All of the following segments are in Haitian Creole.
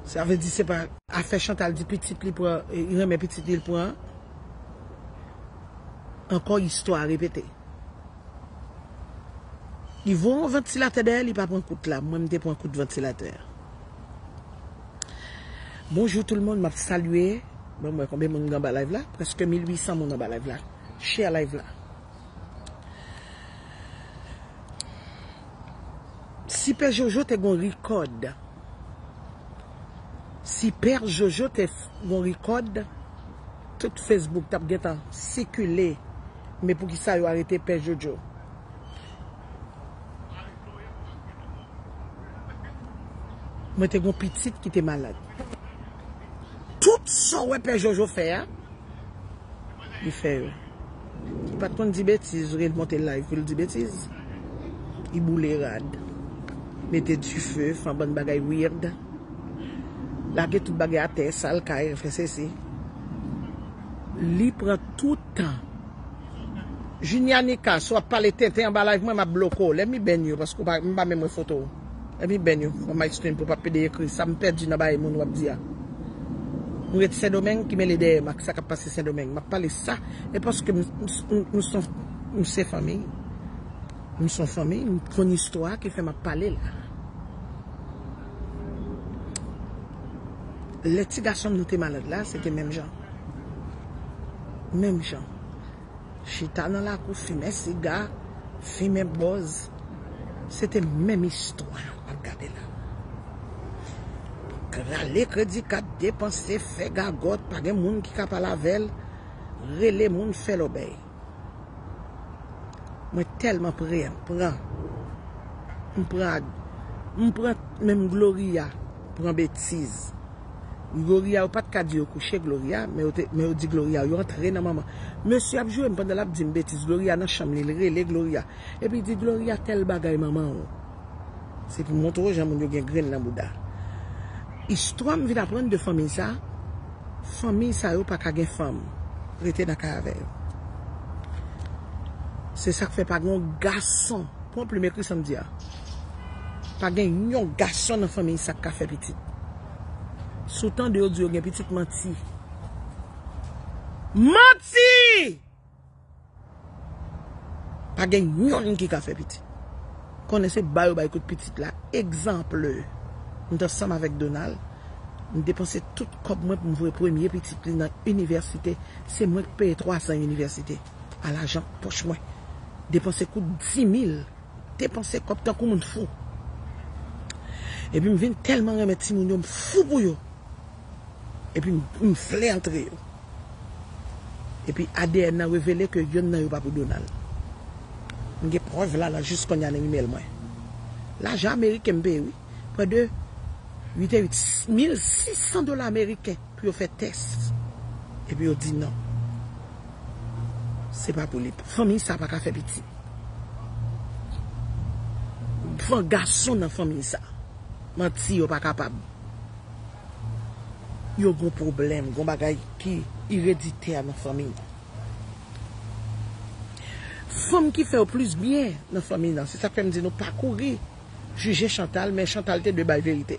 Sa vle di se pa afè Chantal di pitit li pran, li renmen pitit li li pran. Ankò istwa a repete. Li voye yon vantilatè dèyè li pa pran kout la, mwen m te pran kout vantilatè a. Bonjou tout le monde map salye banm wè konbyen moun gen anba live la preske 1800 moun anba live la share live la. Si pè jojo te gon rikòd. Si pè jojo te gon rikòd tout Facebook tap gentan sikile men poukisa yo arete pè jojo. Mwen te gon pitit ki te malad. Tout sa ou wè pè jojo fè a li fè yo. Li pat konn di betiz vre li monte live poul di betiz li boule rad mete dife fè anbann bagay weird lage tout bagay atè sal kay fè sesi li pran tout tan Junia Nicas wap pale tenten anba live mwen map bloke w lèm ibenn yo paske ou pa mwen pa menm wè foto w. Epi Ben yo kòman ice cream pou pa pede ekri sa m pèdi nan bagay moun wap di a m ret sendomeng ki mele dèyè m ak sa kap pase sendomeng map pale sa e paske m m son m se fanmiy m son fanmiy m konn istwa ki fè map pale la lè ti gason m nan te malad la se te menm jan menm jan. chita nan lakou fimen siga, fimen bòz, se te menm istwa w ap gade la. Rale kredi kat, depanse, fè gagòt, pa gen moun ki ka pale avè l, rele moun fè lòbèy. Mwen tèlman pran, m pran, m pran menm Gloria pran betiz. Gloria yo pat ka di yo kouche Gloria men yo te men yo di Gloria yo antre nan manman mesye ap joure m pandan lap dim betiz Gloria nan chanm li li rele Gloria epi di Gloria tèl bagay manman w se pou montre w jan moun yo gen grenn nan bouda istwa m vin aprann de fanmiy sa fanmiy sa yo paka gen fanm rete nan kay avè yo se sak fè pa gen yon gason pran plim ekri sam di a. Pa gen yon gason nan fanmiy sa k ka fè pitit. Si w tande yo di yo gen pitit, manti. Manti! Pa gen yonn ki ka fè pitit. Konnen se bay yo bay kout pitit la. Egzanple, m t ansanm avèk Donald, m depanse tout kòb mwen pou m voye premye pitit li nan inivèsite. Se mwen k peye twazan inivèsite a lajan pòch mwen. Depanse kout dimil. Depanse kòb tankou moun fou. Epi m vin tèlman renmen timoun yo, m fou pou yo. Epi m vle antre yo. Epi adn nan revele ke yonn nan yo pa pou Donald. M gen prèv la la jis konnya nan email mwen. Lajan ameriken m peye wi. Prè de 8 et 8, 1600 dola ameriken. Pou yo fè tès epi yo di non se pa pou li fanmiy sa paka fè pitit van gason nan fanmiy sa manti yo pa kapab yo gon pwoblèm gon bagay ki ireditè nan fanmiy nan fanm ki fèw plis byen nan fanmiy nan se sak fèm di nou pa kouri jije chantal men chantal te dwe bay verite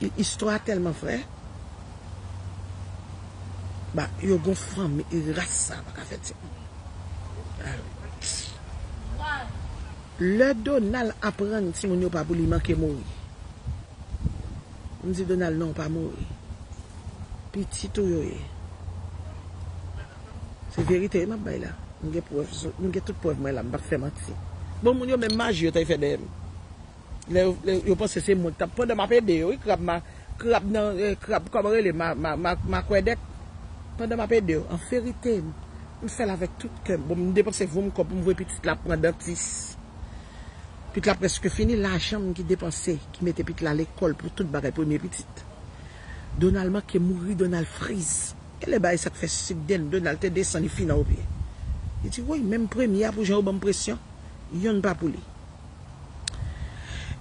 Li istwa a telman vrè. Ba yo gon fanmi e ras sa paka fè timoun. Lè Donald aprann timoun yo pa pou li manke mouri. M di Donald non ou pa mouri. Pitit ou yo ye. Se verite wi map bay la. M gen prèv, m gen tout prèv mwen la m pap fè manti. Bon moun yo menm maji yo te fè dèyè m. Lè yo lè yo panse se mwen k tap pandan map ede yo wi krab ma krab nan krab kòman rele ma ma ma makwèdèk pandan map ede yo an verite m fèl avèk tout kèm bon m depanse vom kòb m voye pitit la pran dantis pit la prèske fini lajan m ki depanse ki mete pit la lekòl pou tout bagay premye pitit Donal manke mouri Donal friz gèlè bay sak fè sik den Donal te desan li fin an opye li di woy menm premye a pou jan yo banm presyon yonn pa pou li.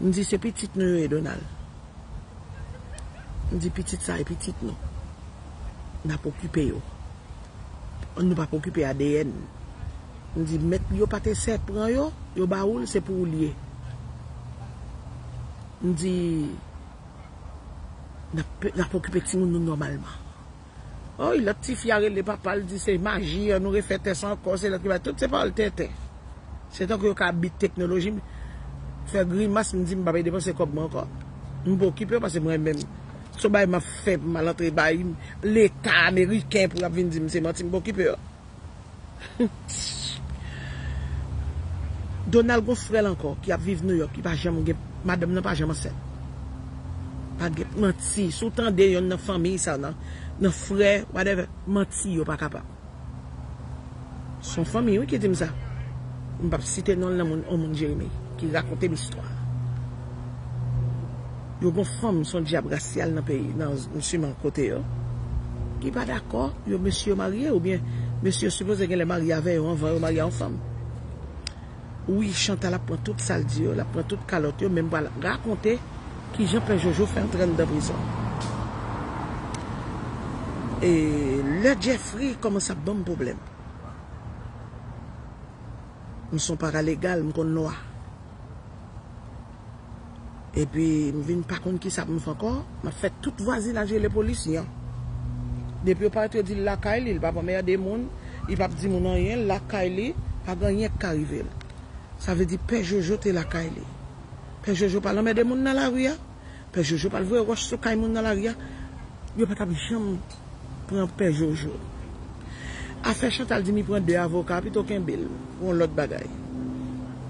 M di se pitit nou yo ye Donald. M di pitit sa e pitit nou. N ap okipe yo. Nou pa p okipe adn. M di mèt yo pa te sè pran yo, yo ba ou l se pou ou l ye. M di n ap okipe timoun nou nòmalman. Oi lot tifi a rele papal di se maji an nou refè tès ankò se lot ki bay tout se pawòl tenten se tankou yo ka abit teknoloji m fè grimas m di m pap depanse kòb mwen ankò m pa okipe yo pase m renmen se yon bagay map fè pou m al antre bay leta ameriken pou yo ap vin di m se manti m pa okipe yo. Donald gon frèl ankò ki ap viv New York ki pa janm gen madanm nan pa janm ansent pa gen manti si w tande yonn nan fanmiy sa nan frè whatever manti yo pa kapab son fanmiy wi ki dim sa m pap site nonl nan on moun Jeremie ki rakontem istwa. Yo gon fanm son dyab rasyal nan peyi nan siman kote yo ki pa dakò yo mesye yo marye oubyen mesye yo sipoze genlè marye avè yo anvan yo marye a yon fanm wi Chantal ap pran tout sal di yo lap pran tout kalòt yo menm pral rakonte kijan pè jojo fè antre anndan prizon e lè Jeffry kòmanse ap banm problèm m son paralegal m konn lwa. Epi m vin pa konn kisa pou m fè ankò, m ap fè tout vwazinaj rele polis yan. Depi yo pa ret yo di l lakay li, li pa p anmède moun, li pa p di moun anyen, l lakay li, pa gen anyen k ka rive l. Sa vle di pè Jojo te lakay li. Pè Jojo pa l anmède moun nan lari a. Pè jojo pat voye wòch sou kay moun nan lari a yo pa tap janm pran pè jojo afè chantal di mi pran 2 avoka pito kenbel pou yon lòt bagay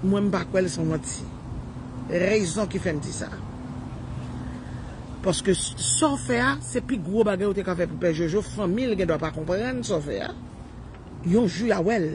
mwen m pa kwèl son manti rezon ki fèm di sa paske sa w fè a se pi gwo bagay ou te ka fè pou pè jojo fanmil gen dwa pa konprann sa w fè a yon jou ya wèl.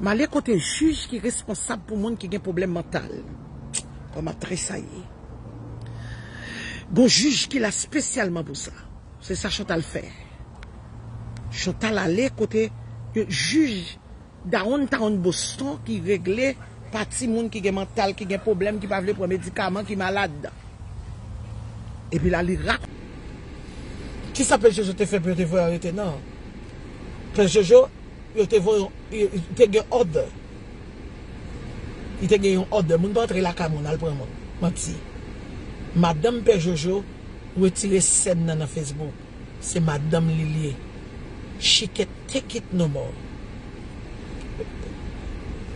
Male kote jij ki responsab pou moun ki gen pwoblèm mantal. Kòm ap tresayi. Gon jij ki la spesyalman pou sa. Se sa Chantal fè. Chantal ale kote yon jij Downtown Boston ki regle pati moun ki gen mantal, ki gen pwoblèm, ki pa vle pran medikaman, ki malad. Epi la li ra. Kisa Pè Jojo te fè pou yo te voye arete nan? Pè Jojo. Yo te voye yon, te gen order. Li te gen yon order. Moun pa antre lakay moun al pran moun. Manti. Madanm pè Jojo retire scène nan nan Facebook. Se madanm li li ye. She can't take it no more.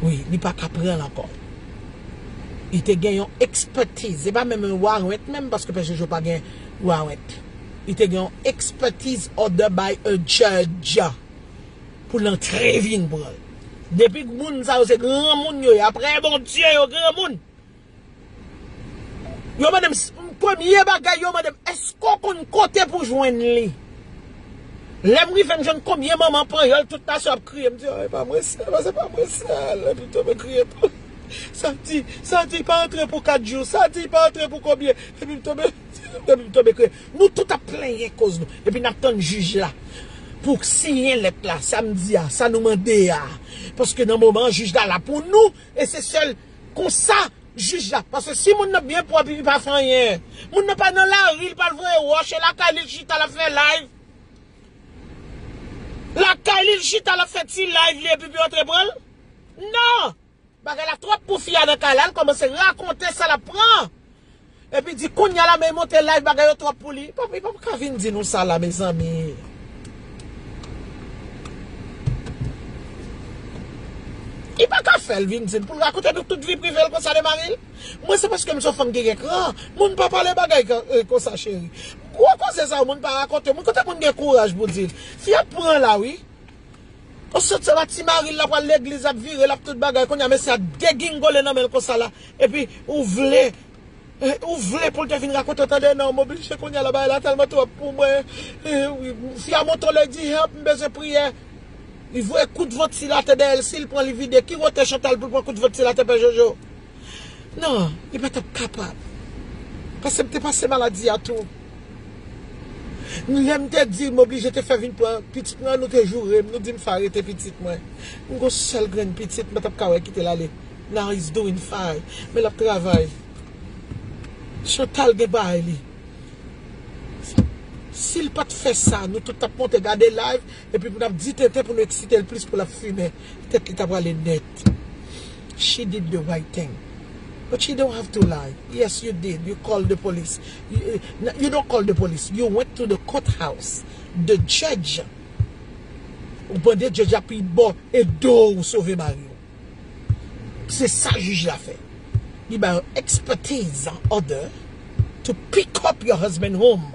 Wi, li pa ka pranl ankò. Li te gen yon expertise. Se pa menm yon warrant menm paske pè Jojo pa gen warrant. Li te gen yon expertise order by a judge. Pou l antre vin pran l. Depi moun sa yo se granmoun yo ye. Aprè Bondye yo granmoun. Yo mande m, premye bagay yo mande m, èske ou konn kote pou jwenn li? Lè m rive m jwenn konbyen manman panyòl tout nasyon ap kriye. M di, e pa mwen sèl la, se pa mwen sèl. Epi tou mwen kriye tou. Sa di, sa di pa antre pou kat jou. Sa di pa antre pou konbyen. Epi m tonbe, epi m tonbe kriye. Nou tout ap plenyen koz nou epi nap tann jij la pou siyen lèt la sa m di a sa nou mande a paske nan moman an jij la la pou nou e se sèl konsa jij la paske si moun nan byen pwòp li pa fè anyen moun nan pa nan lari li pa al voye wòch e lakay li l chita lap fè live lakay li l chita lap fè ti live li epi pou yo antre pran l nan. Bagay la twòp pou fi a nan kay la li kòmanse rakonte sa lap pran epi di kounya la men li monte live bagay yo twòp pou li li pap li pap ka vin di nou sa la mezanmi. Li pa ka fèl vin di nou poul rakonte nou tout vi privel konsa de maril mwen se paske m son fanm ki gen kran moun pa pale bagay konsa cheri gwo koze sa yo moun pa rakonte moun kote moun gen kouraj pou dil fi a pran la wi. Osiyot se la ti maril la pral legliz lap vire lap tout bagay kounya mesye a degingole nan menl konsa la epi ou vle ou vle poul te vin rakonte tande nan moblije kounya la bagay la tèlman twòp pou mwen fi a moto lè di help m bezwen priyè li voye kout vantilatè dèyèl sil pran li vide ki wote chantal poul pran kout vantilatè pè jojo. Non, li pa t ap kapab. Pase m te pase maladi a tou. Lè m te di l m oblije te fè vin pran pitit mwen an, nou te joure m, nou di m fè arete pitit mwen. M gon sèl grenn pitit m pa t ap ka wè kite l ale. Now he's doing fine. Men l ap travay. Chantal gen bagay li. Si l pa t fè sa, nou tout t ap monte gade live Epi pou nap di tenten pou nou eksitel plis pou lap fimen, tèt li ta prale nèt. She did the right thing but she don't have to lie, yes you did you call the police, you don't call the police you went to the court house the judge ou mande judge la pi bon e do ou sove mari ou se sa juge la fè li bay ou expertise order to pick up your husband home.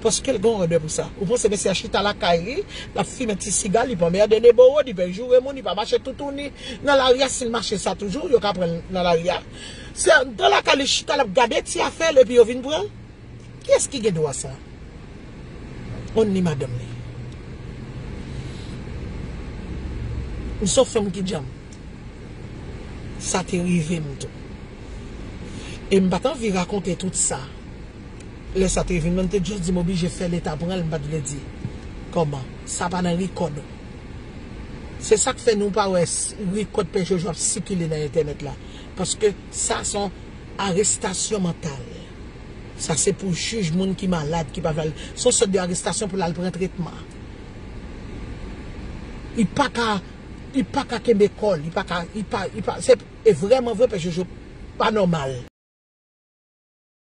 Paske l gen odè pou sa. Ou panse mesye a chita lakay li, l ap fimen ti siga l, li pa anmède Deboro, li pa joure moun, li pa mache toutouni nan lari a, si l mache sa toujou, yo ka pran l nan lari a. Se nan lakay li chita l ap gade ti afè l epi yo vin pran l? Kiyès ki gen dwa sa? Only madanm li. M son fanm ki djanm. Sa te rive m tou. E m pa t anvi rakonte tout sa. Lè sa te vin mwen te just di m oblije fè leta pran l m pat vle di kòman sa pa nan rikòd ou se sak fè nou pa wè rikòd pè jojo ap sikile nan entènèt la paske sa son arestasyon mantal sa se pou jij moun ki malad ki pa vle al son sòt de arestasyon pou l al pran tretman li paka li paka kenbe kò l li paka li pa li pa se e vrèman vre pè jojo pa nòmal.